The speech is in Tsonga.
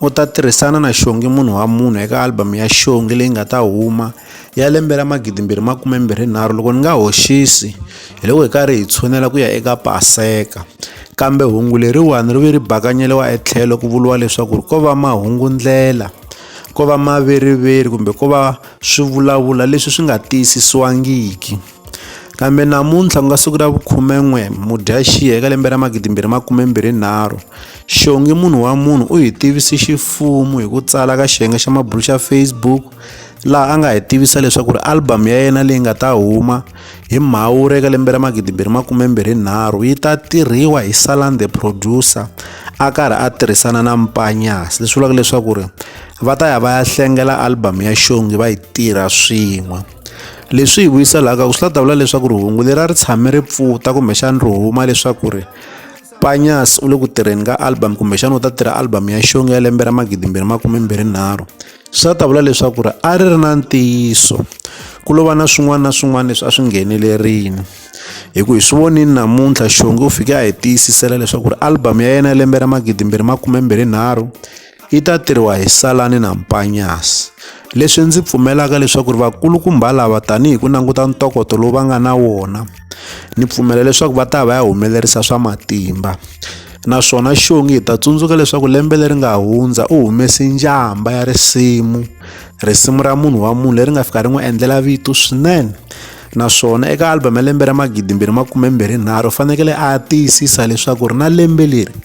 u ta tirhisana na xongi munhu wa munhu eka album ya xongi leyi nga ta huma ya lembe ra magidimbirhi makume mbirhi nharhu loko ni nga hoxisi hi loko hi karhi hi tshunela ku ya eka paseka kambe hungu leriwani ri ve ri bakanyeliwa etlhelo ku vuriwa leswaku ko va mahungu ndlela ko va maveriveri kumbe ko va swivulavula leswi swi nga tiyisisiwangiki Kambe namuntlha ku nga siku ra vukhume-n'we Mudyaxihi eka lembe ra magidi mbirhi makume mbirhi nharhu, xongi munhu wa munhu u hi tivise xifumu hi ku tsala ka xiyenge xa mabulu xa Facebook laha a nga hi tivisa leswaku ri album ya yena leyi nga ta huma hi Mhawuri eka lembe ra magidi mbirhi makume mbirhi nharhu yi ta tirhiwa hi Salan the producer a karhi a tirhisana na Mpanyas leswi vulaka leswaku ri va ta ya va ya hlengela album ya xongi va yi tirha swin'we. leswi hi vuyiselaka ku swi la ta vula leswaku ri hungu lera ri tshame ri pfuta kumbexana ri huma leswaku ri panyas u le ku tirheni ka album kumbexana u ta tirha album ya xonga ya lembe ra magidimbirhi makumembirhinharhu swi ta vula leswaku ri a ri ri na ntiyiso ku lova na swin'wana na swin'wana leswi a swi nghenelerini hi ku hi swi vonini namuntlha xonge u fike a hi tiyisisela leswaku ri album ya yena ya lembe ra magidimbirhi makumembirhinharhu yi ta tirhiwa hi Salani na Mpanyasi. Leswi ndzi pfumelaka leswaku ri vakulukumba lava tanihi ku languta ntokoto lowu va nga na wona ni pfumela leswaku va ta va ya humelerisa swa matimba naswona xongi hi ta tsundzuka leswaku lembe leri nga hundza u humese njhamba ya risimu risimu ra munhu wa munhu leri nga fika ri n'wi endlela vito swinene naswona eka album ya lembe ra magidimbirhi makumembirhinharhu u fanekele a tiyisisa leswaku ri na lembe leri